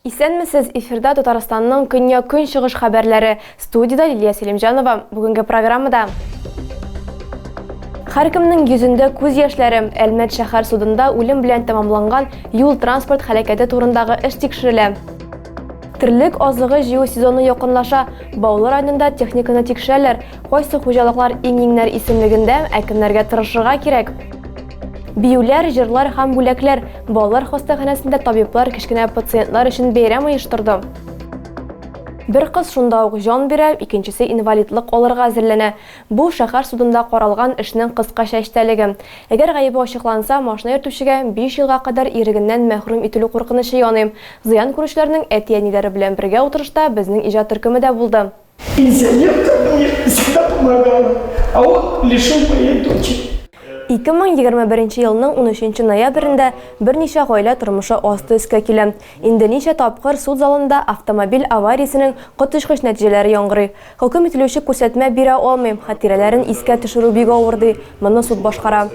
Исәнмесез, эфирда Татарстанның көньяк көнчыгыш хәбәрләре. Студида Лилия Селимҗанова. Бүгенге программада Һәркемнең йөзендә күз яшьләре. Әлмәт шәһәр судында үлем белән тәмамланган юл-транспорт һәлакәте турындагы эш тикшерелә. Терлек азыгы җыю сезоны якынлаша. Баулы районында техниканы тикшерәләр. Кайсы хуҗалыклар иң-иңнәр исемлегендә, ә кемнәргә тырышырга кирәк? Биюләр, җырлар һәм бүләкләр. Балалар хастаханәсендә табиблар кечкенә пациентлар өчен бәйрәм оештырды. Бер кыз шунда ук җан бирә, икенчесе инвалидлык алырга әзерләнә. Бу, шәһәр судында каралган эшнең кыскача эчтәлеге. Әгәр гаебе ачыкланса, машина йөртүчегә биш елга кадәр ирегеннән мәхрүм ителү куркынычы яный. Зыян күрүчеләрнең әти-әниләре белән бергә утырышта безнең иҗат төркеме дә булды. Пенсионерка у них всегда помогала, а он лишил моей дочери. 2021 елның унөченче ноябрендә берничә гаилә тормышы асты-өскә килә. Инде ничә тапкыр суд залында автомобиль авариясенең коточкыч нәтиҗәләре яңгырый. Хөкем ителүче күрсәтмә бирә алмыйм, хатирәләрен искә төшерү бик авыр, ди, моны суд башкара.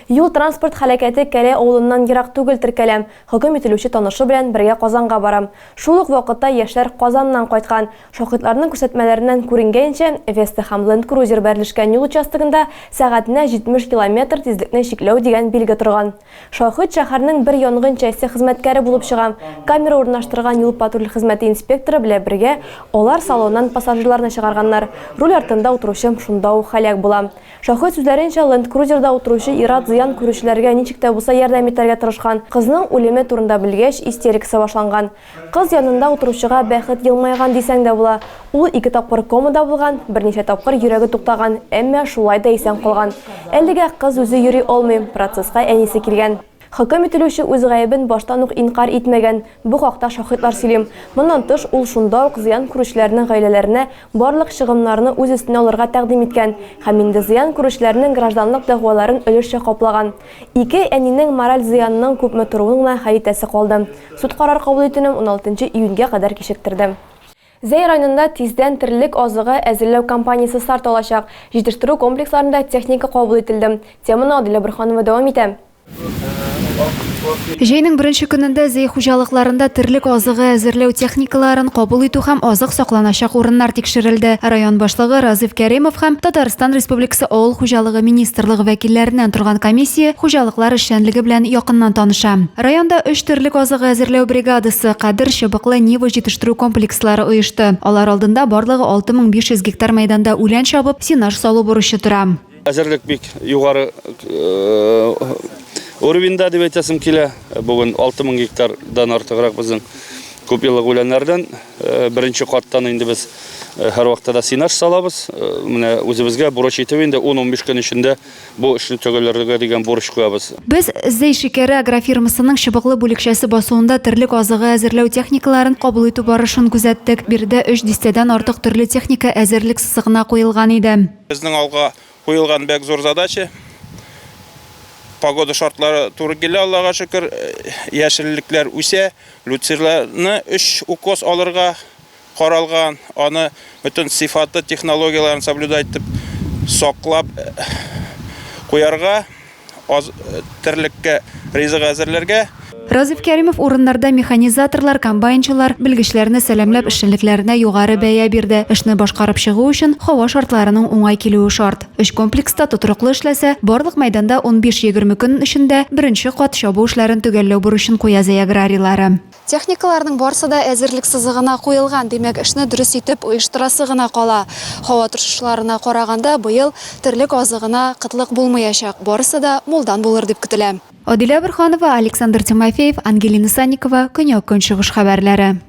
Юл-транспорт һәлакәте Кәләй авылыннан ерак түгел теркәлә. Хөкем ителүче танышы белән бергә Казанга барам. Шул ук вакытта яшьләр Казаннан кайткан. Шаһитларның күрсәтмәләреннән күренгәнчә, Веста һәм Ленд Крузер бәрелешкән юл участогында сәгатенә 70 километр тизлекне чикләү дигән билге торган. Шаһит шәһәрнең бер янгын часте хезмәткәре булып чыга. Камера урнаштырган юл-патруль хезмәте инспекторы белә бергә алар салоннан пассажирларны чыгарганнар. Руль артында утыручым шунда ук һәлак була. Шофер сүзләренчә, ленд-крузерда утыручы ир-ат зыян күрүчеләргә ничек тә булса ярдәм итәргә тырышкан, кызның үлеме турында белгәч, истерикасы башланган. Кыз янында утыручыга бәхет елмайган дисәң дә була. Ул ике тапкыр комада булган, берничә тапкыр йөрәге туктаган, әмма шулай да исән калган. Әлегә кыз үзе йөри алмый, процесска әнисе килгән. Хөкем ителүче үз гаебен баштан ук инкарь итмәгән, бу хакта шаһитлар сөйли. Моннан тыш, ул шунда ук зыян күрүчеләрнең гаиләләренә барлык чыгымнарны үз өстенә алырга тәкъдим иткән һәм инде зыян күрүчеләрнең гражданлык дәгъваларын өлешчә каплаган. Ике әнинең мораль зыянының күпме торуын гына хәл итәсе калды. Суд карар кабул итүне уналтынчы июньгә кадәр кичектерде. Зәй районында тиздән терлек азыгы әзерләү кампаниясе старт алачак. Җитештерү комплексларында техника кабул ителде. Теманы Адилә Борһанова дәвам итә. Җәйнең беренче көнендә Зәй хуҗалыкларында терлек азыгы әзерләү техникаларын кабул итү һәм азык сакланачак урыннар тикшерелде. Район башлыгы Разыйф Кәримов һәм Татарстан Республикасы Авыл хуҗалыгы министрлыгы вәкилләреннән торган комиссия хуҗалыклар эшчәнлеге белән якыннан таныша. Районда өч терлек азыгы әзерләү бригадасы, Кадер, Чыбыклы, Нива, Җитештерү комплекслары оешты. Алар алдында барлыгы 6500 гектар мәйданда үлән чабып, сенаж салу бурычы тора. Әзерлек бик югары уровеньда дип әйтәсем килә. Бүген 6000 гектардан артыграк безнең күп еллык үләннәрдән беренче каттан инде без һәрвакытта да сенаж салабыз. Менә үзебезгә бурыч итеп инде 10-15 көн эчендә Бу эшне төгәлләргә дигән бурыч куябыз. Без Зәй шикәре агрофирмасының чыбыклы бүлекчәсе басуында терлек азыгы әзерләү техникаларын кабул итү барышын күзәттек. Биредә өч дистәдән артык төрле техника әзерлек сызыгына куелган иде. Безнең алга куелган бәк зур задача. Погода шартлары туры килә, Аллага шөкер, яшеллекләр үсә. Люцирларны өч укос алырга. каралган, аны бөтен сыйфаты технологияләрен соблюдать итеп саклап куярга, аз терлеккә ризык әзерләргә. Разиф Кәримов урыннарда механизаторлар, комбайнчылар, белгечләрне сәламләп, эшчәнлекләренә югары бәя бирде. Эшне башкарып чыгу өчен һава шартларының уңай килүе шарт. Өч комплекста тотрыклы эшләсә, барлык мәйданда унбиш-егерме көн эчендә беренче кат чабу эшләрен төгәлләү бурычын куя Зәй аграрийлары. Техникаларның барсы да әзерлек сызыгына куелган, димәк, эшне дөрес итеп оештырасы гына кала. Һава торышышларына караганда, быел терлек азыгына кытлык булмаячак, барысы да мулдан булыр дип көтелә. Адилә Борһанова, Александр Тимофеев, Ангелина Санникова, Көньяк-Көнчыгыш хәбәрләре.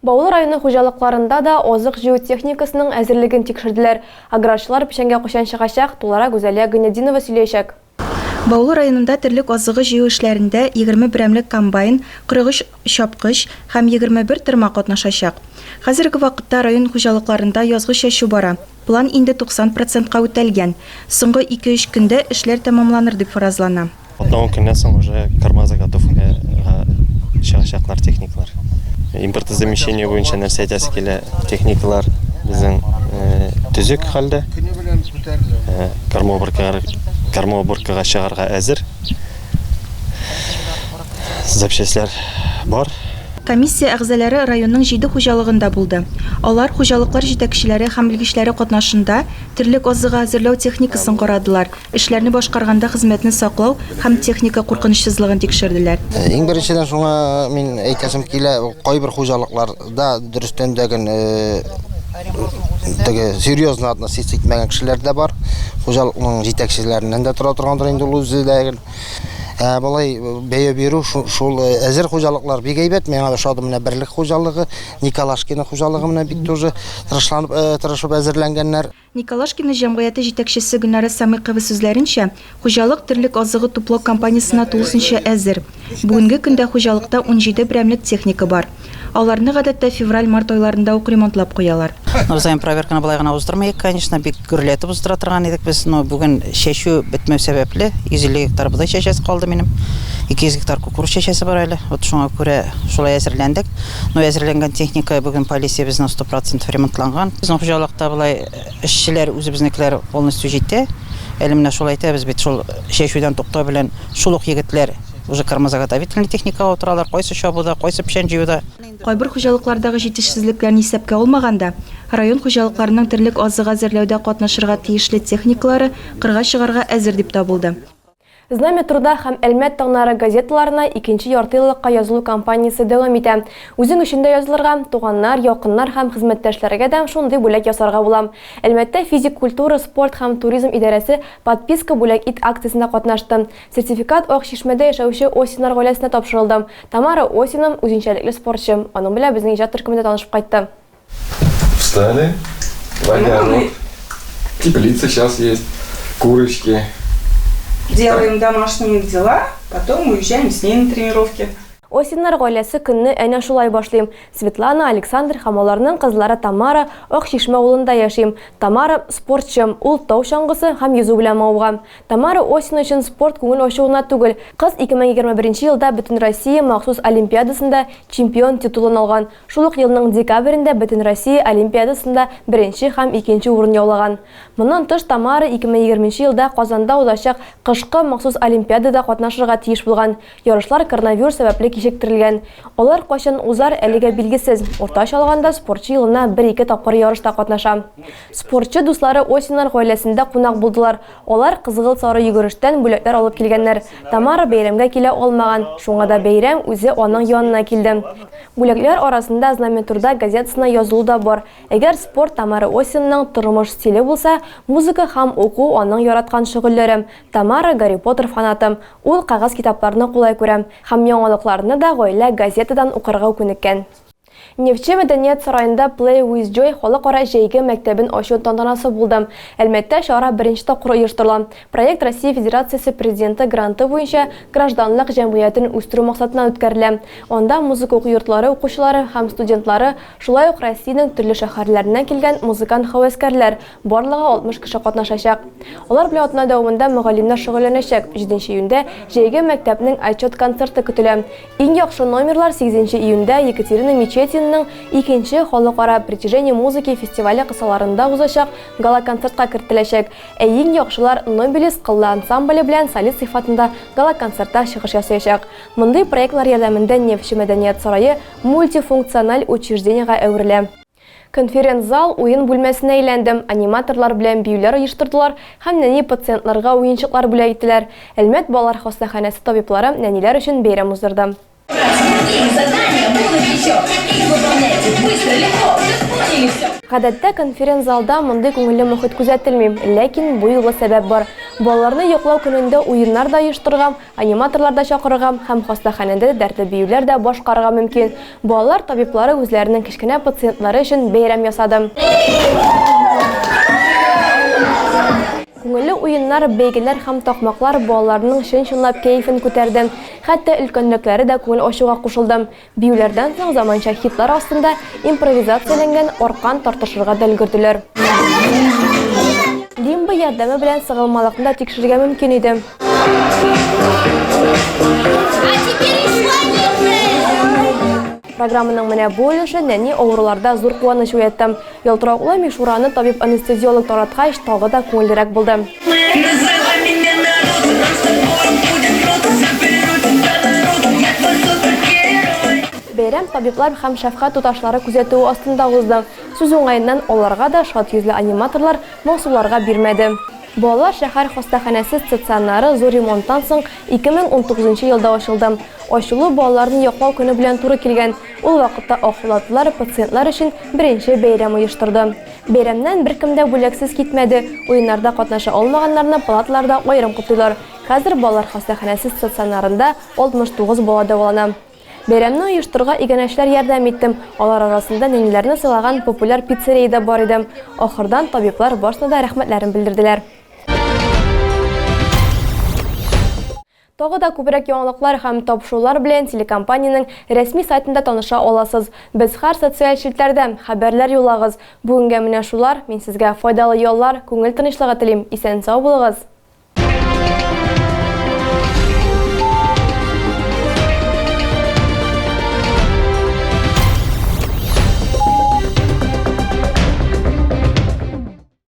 Баулы районы хуҗалыкларында да азык җыю техникасының әзерлеген тикшерделәр. Аграрчылар печәнгә кайчан чыгачак, тулырак Гүзәлия Гыйнетдинова сөйләячәк. Баулы районында терлек азыгы җыю эшләрендә егерме берәмлек комбайн, кырык өч чапкыч һәм егерме бер тырма катнашачак. Хәзерге вакытта район хуҗалыкларында язгы чәчү бара, план инде 90 процентка үтәлгән, соңгы ике-өч көндә эшләр тәмамланыр дип фаразлана. Атна-ун көннән соң уже корма заготовкага чыгачаклар техникалар. Импортозамещение буенча нәрсә әйтәсе килә, техникалар безнең төзек хәлдә. Кормоуборкага чыгарга әзер. Запчастлар бар. Комиссия әгъзаләре районның җиде хуҗалыгында булды. Алар хуҗалыклар җитәкчеләре һәм белгечләре катнашында терлек азыгы әзерләү техникасын карадылар, эшләрне башкарганда хезмәтне саклау һәм техника куркынычсызлыгын тикшерделәр. Иң беренчедән шуңа мин әйтәсем килә, кайбер хуҗалыклар Да, дөрестән дә гел теге серьезно относиться итмәгән кешеләр дә бар. Хуҗалыкның җитәкчеләреннән дә тора торгандыр инде ул үзе дә гел. Ә болай бәя бирү шул әзер хуҗалыклар бик әйбәт. Миңа ошады менә берлек хуҗалыгы, Николашкина хуҗалыгы менә бик тоже тырышланып тырышып әзерләнгәннәр. Николашкино җәмгыяте җитәкчесе Гөлнара Сәмыйкова сүзләренчә, хуҗалык терлек азыгы туплау кампаниясенә тулысынча әзер. Бүгенге көндә хуҗалыкта унҗиде берәмлек техника бар. Аларны, гадәттә, февраль-март айларында ук ремонтлап куялар. Узаем проверканы болай гына уздырмыйк, конечно, бик гөрләтеп уздыра торган идек без, но бүген чәчү бетмәү сәбәпле, 150 гектар бодай чәчәсе калды минем, 200 гектар кукуруз чәчәсе бар әле, вот шуңа күрә шулай әзерләндек. Ну әзерләнгән техника бүген полициябезнең 100% ремонтланган. Безнең хуҗалыкта болай эшчеләр үзебезнекеләр полностью җитә. Әле менә шул әйтәбез бит, шул чәчүдән туктау белән шул ук егетләр уже кормозаготовительный техникага утыралар, кайсы чабуда, кайсы печән җыюда. Кайбер хуҗалыклардагы җитешсезлекләрне исәпкә алмаганда, район хуҗалыкларының терлек азыгы әзерләүдә катнашырга тиешле техникалары кырга чыгарга әзер дип табылды. Знамя труда һәм Әлмәт таңнары газеталарына икенче яртыеллыкка язылу кампаниясе дәвам итә. Үзең өчен дә язылырга, туганнар, якыннар һәм хезмәттәшләргә дә шундый бүләк ясарга була. Әлмәттә Физик культура, спорт һәм туризм идарәсе Подписка бүләк ит акциясендә катнашты. Сертификат Ак Чишмәдә яшәүче Осиннар гаиләсенә тапшырылды. Тамара Осина, үзенчәлекле спортчы. Аның белән безнең иҗат төркеме дә танышып кайтты. Встали. Водяну. Теплица сейчас есть. Курочки. Делаем домашние дела, потом уезжаем с ней на тренировки. Осиннар гаиләсе көнне әнә шулай башлыйм. Светлана, Александр һәм аларның кызлары Тамара Ак Чишмә авылында яшим. Тамара спортчы, ул тау чаңгысы һәм йөзү белән мавыга. Тамара Осин өчен спорт күңел ачуына түгел. Кыз 2021 елда Бөтенроссия махсус олимпиадасында чемпион титулын алган. Шул ук елның декабрендә Бөтенроссия олимпиадасында беренче һәм икенче урын яулаган. Моннан тыш Тамара 2020 нче елда Казанда узачак кышкы махсус олимпиадада катнашырга тиеш булган, ярышлар коронавирус сәбәпле кичектерелгән. Алар кайчан узар, әлегә билгесез. Уртача алганда спортчы елына бер-ике тапкыр ярышта катнаша. Спортчы дуслары Осиннар гаиләсендә кунак булдылар, алар кызгылт-сары йөгерештән бүләкләр алып килгәннәр. Тамара бәйрәмгә килә алмаган, шуңа да бәйрәм үзе аның янына килде. Бүләкләр арасында Знамя труда газетасына язылу да бар. Әгәр спорт Тамара Осинаның тормыш стиле булса, музыка һәм уку аның яраткан шөгыльләре. Тамара, Гарри Поттер фанаты. Ул кәгазь китапларны кулай күрә. Һәм яңалыкларны да гаилә газетадан укырга күнеккән. Нефтьче мәдәният сараенда Play with Joy халыкара җәйге мәктәбен ачу тантанасы булды. Әлмәттә чара беренче тапкыр оештырыла. Проект Россия Федерациясе Президенты гранты буенча гражданлык җәмгыятен үстерү максатыннан үткәрелә. Анда музыка уку йортлары укучылары һәм студентлары, шулай ук Россиянең төрле шәһәрләреннән килгән музыкант-һәвәскәрләр, барлыгы 60 кеше катнашачак. Алар белән атна дәвамында мөгаллимнәр шөгыльләнәчәк. Җиденче июньдә җәйге мәктәпнең отчет концерты көтелә. Иң яхшы номерлар сигезенче июньдә Екатерина Мечетинаның икенче халыкара Притяжение музыки фестивале кысаларында узачак гала-концертка кертеләчәк. Ә иң яхшылар Нобелис кыллы ансамбле белән солист сыйфатында гала-концертта чыгыш ясаячак. Мондый проектлар ярдәмендә Нефтьче мәдәният сарае мультифункциональ учреждениегә әверелә. Конференц-зал уен бүлмәсенә әйләнде, аниматорлар белән биюләр оештырдылар һәм нәни пациентларга уенчыклар бүләк иттеләр. Әлмәт балалар хастаханәсе табиблары нәниләр өчен бәйрәм уздырды. Гадәттә конференц-залда мондый күңелле мохит күзәтелми, ләкин бу юлы сәбәп бар. Балаларны йоклау көнендә уеннар да оештырырга, аниматорлар да чакырырга һәм хастаханәдә дәртле биюләр дә башкарырга мөмкин. Балалар табиблары үзләренең кечкенә пациентлары өчен бәйрәм ясады. Күңелле уеннар, бәйгеләр һәм такмаклар балаларның чын-чынлап кәефен күтәрде. Хәтта өлкәнрәкләре дә күңел ачуга кушылды. Биюләрдән соң заманча хитлар астында импровизацияләнгән аркан тартышырга да өлгерделәр. Лимба ярдәме белән сыгылмалыкны да тикшерергә мөмкин иде. Программаның менә бу өлеше нәни авыруларда зур куаныч уятты. Ялтыравыклы мишураны табиб-анестезиолог тараткач, тагы да күңеллерәк булды. Бәйрәм табиблар һәм шәфкать туташлары күзәтүе астында узды. Сүз уңаеннан, аларга да шат йөзле аниматорлар моңсуларга бирмәде. Балалар шәһәр хастаханәсе стационары зур ремонттан соң 2019 елда ачылды. Ачылу балаларны яклау көне белән туры килгән. Ул вакытта Акбулатлылар пациентлар өчен беренче бәйрәм оештырды. Бәйрәмнән беркем дә бүләксез китмәде, уеннарда катнаша алмаганнарны палаталарда аерым котлыйлар. Хәзер балалар хастаханәсе стационарында 69 бала дәвалана. Бәйрәмне оештырырга иганәчеләр ярдәм иттем, алар арасында нәниләрне сыйлаган популяр пиццерия дә бар иде. Ахырдан табиблар барсына да рәхмәтләрен белдерделәр. Тагы да күбрәк яңалыклар һәм тапшырулар белән телекомпаниянең рәсми сайтында таныша аласыз. Без һәр социаль челтәрдә, хәбәрләр юллагыз. Бүгенгә менә шулар, мин сезгә файдалы яллар, күңел тынычлыгы телим, исән-сау булыгыз!